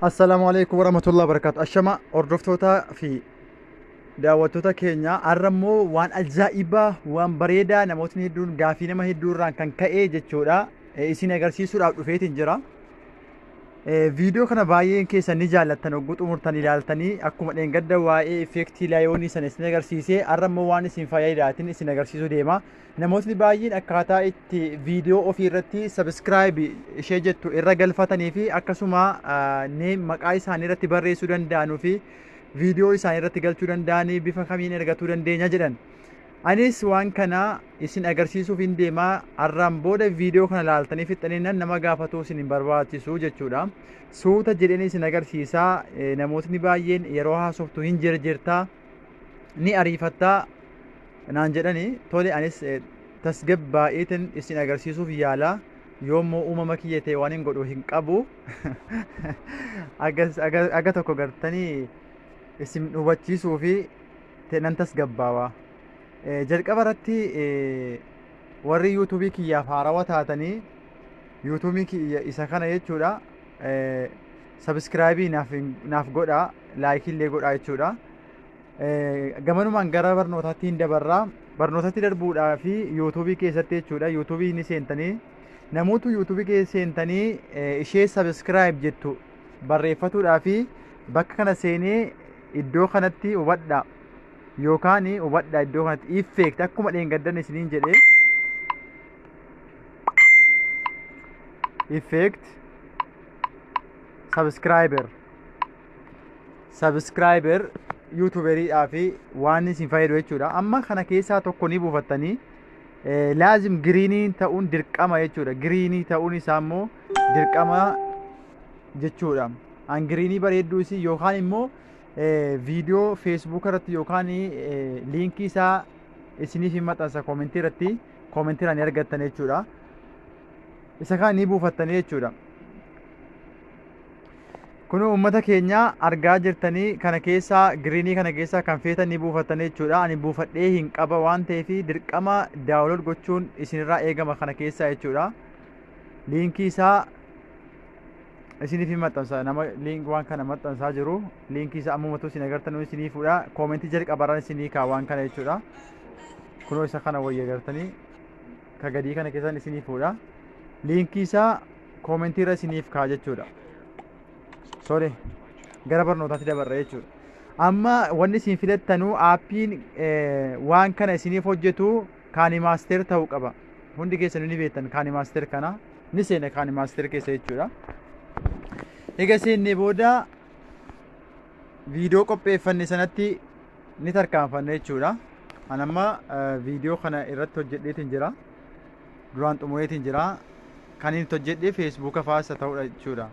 Assalaamu alaikum warahmatullahi wabarakatuh. Ashama hordoftootaa fi daawwattoota keenya har'a immoo waan ajaa'ibaa waan bareedaa namootni hedduun gaafii nama hedduu irraan kan ka'e jechuudha. Eh, Isin agarsiisuudhaaf dhufeetiin jira. Eh, Viidiyoo kana baay'een keessan ni jaallattan hogguu xumurtan ilaaltanii akkuma dheengadda waa'ee effeektii laayoonii sana isin agarsiisee har'a immoo waan isin fayyadaatiin isin agarsiisuu deema. Namootni baay'een akkaataa itti viidiyoo ofii irratti sabiskiraayib ishee jettu irra galfatanii fi akkasuma neem maqaa isaanii irratti barreessuu danda'anuu fi viidiyoo isaanii irratti galchuu danda'anii bifa kamiin ergatuu dandeenya jedhan. Anis waan kana isin agarsiisuuf hin deemaa har'aan booda viidiyoo kana laaltanii fixxaniinan nama gaafatuu isin hin barbaachisu jechuudha. Suuta jedheen isin agarsiisaa namootni baay'een yeroo haasoftu hin jirjirtaa ni ariifattaa naan jedhani tole anis tasgabbaa'eetin isin agarsiisuuf yaala yoommoo uumama kiyya ta'e waan hin godhu hin qabu aga tokko gartanii isin hubachiisuu fi nan tasgabbaawa jalqaba irratti warri yuutuubii kiyyaaf haarawa taatanii yuutuubii kiyya isa kana jechuudha sabiskiraayibii naaf godhaa laayikii illee godhaa jechuudha Gamanumaan gara barnootaatti hin dabarraa. Barnootatti darbuudhaa fi yuutuubii keessatti jechuudha. Yuutuubii ni seentanii. Namoota yuutuubii keessa seentanii ishee sabiskiraayib jettu barreeffatuudhaa fi bakka kana seenee iddoo kanatti hubadha. Yookaan hubadha iddoo kanatti effect akkuma dheengaddan isiniin jedhee effect subscriber subscriber yuutuberidhaa fi waan isin fayyadu jechuudha amma kana keessaa tokko ni buufattanii eh, laazim giriinii ta'uun dirqama jechuudha giriinii ta'uun isaa immoo dirqama jechuudha an giriinii bareedduu isii yookaan immoo eh, viidiyoo feesbuuk irratti yookaan eh, liinkii isaa isiniif hin maxxansa koomentii irratti koomentiraan ni argattan jechuudha isa kana ni buufattanii jechuudha Kun uummata keenya argaa jirtanii kana keessaa giriinii kana keessaa kan feetan ni buufattanii jechuudha. Ani buufadhee hin qaba waan ta'eef dirqama daawulood gochuun isinirraa eegama kana keessaa jechuudha. Liinkii isaa isiniif hin maxxansa nama liink waan kana maxxansaa jiru liinkii isaa ammumatu isin agartanuu isinii fuudha koomentii jalqabarraan isinii kaa waan kana jechuudha. Kunoo isa kana wayya agartanii ka gadii kana keessaan isinii fuudha. Liinkii isaa koomentii irra isiniif kaa jechuudha. Sorry gara barnootaatti dabarra jechuudha. Amma wanni isin filattanuu aappiin eh, waan kana isiniif hojjetu kaani maasteer ta'uu qaba. Hundi keessanuu ni beektan kaani maasteer kana ni seena kaani maasteer keessa jechuudha. Egaa seennee booda viidiyoo qopheeffanne sanatti ni tarkaanfanna jechuudha. An amma eh, viidiyoo kana irratti hojjedheetiin jira. duraan xumureetiin jira kan inni hojjedhe feesbuuka faasa ta'uudha jechuudha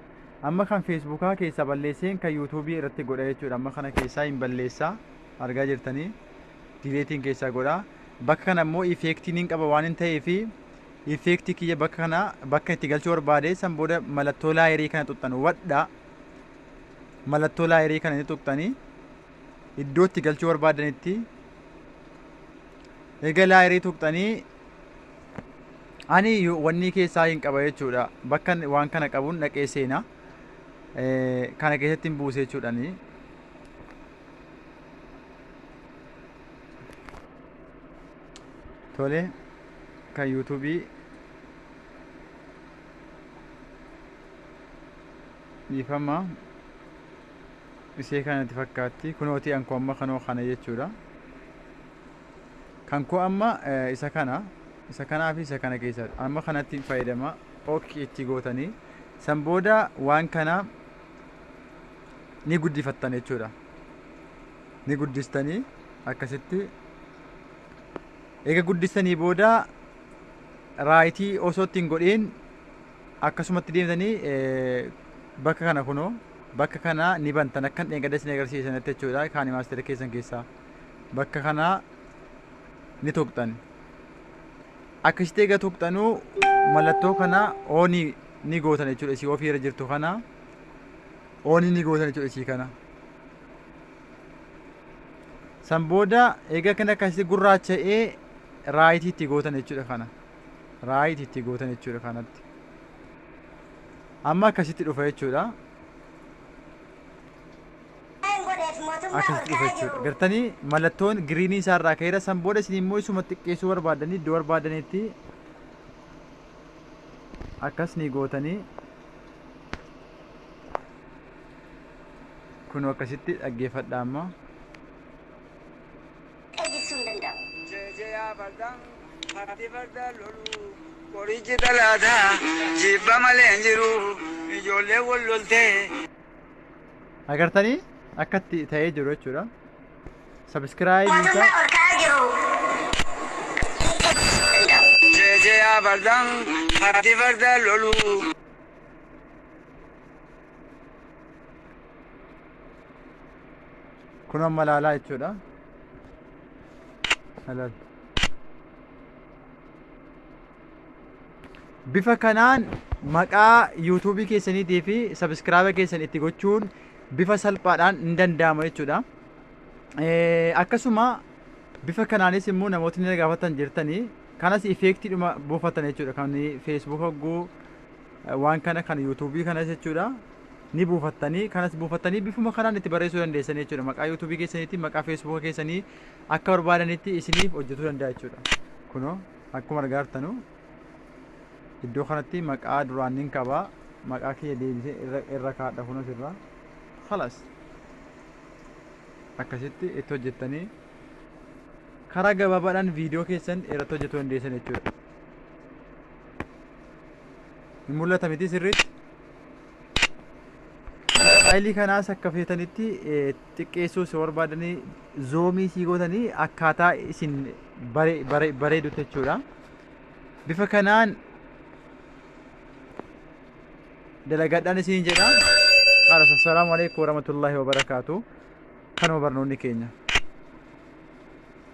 amma kan feesbuukaa keessaa balleesseen kan yuutuubii irratti godha jechuudha amma kana keessaa hin balleessaa argaa jirtanii dileetiin keessaa godha bakka kana immoo ifeektiin hin qaba waan hin ta'eef ifeektii kiyya bakka kana bakka itti galchuu barbaade san booda mallattoo laayerii kana tuqxan wadha mallattoo laayerii kana ni tuqxanii iddoo itti galchuu barbaadanitti egaa laayerii tuqxanii ani wannii keessaa hin qaba jechuudha bakka waan kana qabuun dhaqee seena kana keessatti hin buuse jechuudhani tole kan yuutuubii dhiifama isee kanatti fakkaatti kunooti ankoomma kanoo kana jechuudha Kan koo amma isa kana isa kanaa fi isa kana keessaa amma kanatti hin fayyadama ok itti gootanii san booda waan kana ni guddifattan jechuudha ni guddistanii akkasitti eega guddistanii booda raayitii osoo ittiin godhiin akkasumatti deemtanii bakka kana kunoo bakka kana ni bantan akkan dheengadda isin agarsiisanatti jechuudha kaani maastera keessan keessaa bakka kanaa ni tuqxan akka ishitee ga tuqxanuu mallattoo kana oonii ni gootan jechuudha isii ofii irra jirtu kana oonii ni gootan jechuudha isii kana san booda egaa kan akkasitti gurraacha'ee raayitii itti gootan jechuudha kana raayitii itti gootan jechuudha kanatti amma akkasitti dhufa jechuudha akkasitti dhufa jechuudha gartanii mallattoon giriinii isaa irraa ka'eera san booda isin immoo isuma xiqqeessuu barbaadanii iddoo barbaadanitti akkas ni gootanii kun akkasitti dhaggeeffadha amma Qorichi talaataa jibba malee hin jiru ijoollee wal loltee. agartanii akkatti ta'ee jiru jechuudha sabiskiraayibii isaa Mootummaan ol ka'aa jiru. Jeejeeyaa fardaan fardi farda lolu. kun amma laalaa jechuudha Halal. bifa kanaan maqaa yuutuubii keessaniitii fi sabiskiraaba keessan itti gochuun bifa salphaadhaan hin danda'ama jechuudha. Akkasuma bifa kanaanis immoo namootni na gaafatan jirtanii kanas ifeektiidhuma buufatan jechuudha kan feesbuuk hogguu waan kana kan yuutuubii kanas jechuudha ni buufattanii kanas buufattanii bifuma kanaan itti barreessuu dandeessan jechuudha maqaa yuutuubii keessaniitiin maqaa feesbuuka keessanii akka barbaadanitti isiniif hojjetuu danda'a jechuudha kunoo. Akkuma argaartanu iddoo kanatti maqaa duraan nin qabaa maqaa kiyya deebisee irra irra kaadha kunas irraa halas akkasitti itti hojjettanii karaa gabaabaadhaan viidiyoo keessan irratti hojjetuu dandeessan jechuudha. Hin mul'ata miti sirriitti. Faayilii kanaas akka feetanitti xiqqeessuu si barbaadanii zoomii sii gootanii akkaataa isin bareedutti jechuudha. Bifa kanaan dalagadhaan isin jedha. Qaras assalaamu alaikum warahmatullahi wabarakaatu. Kanuma barnoonni keenya.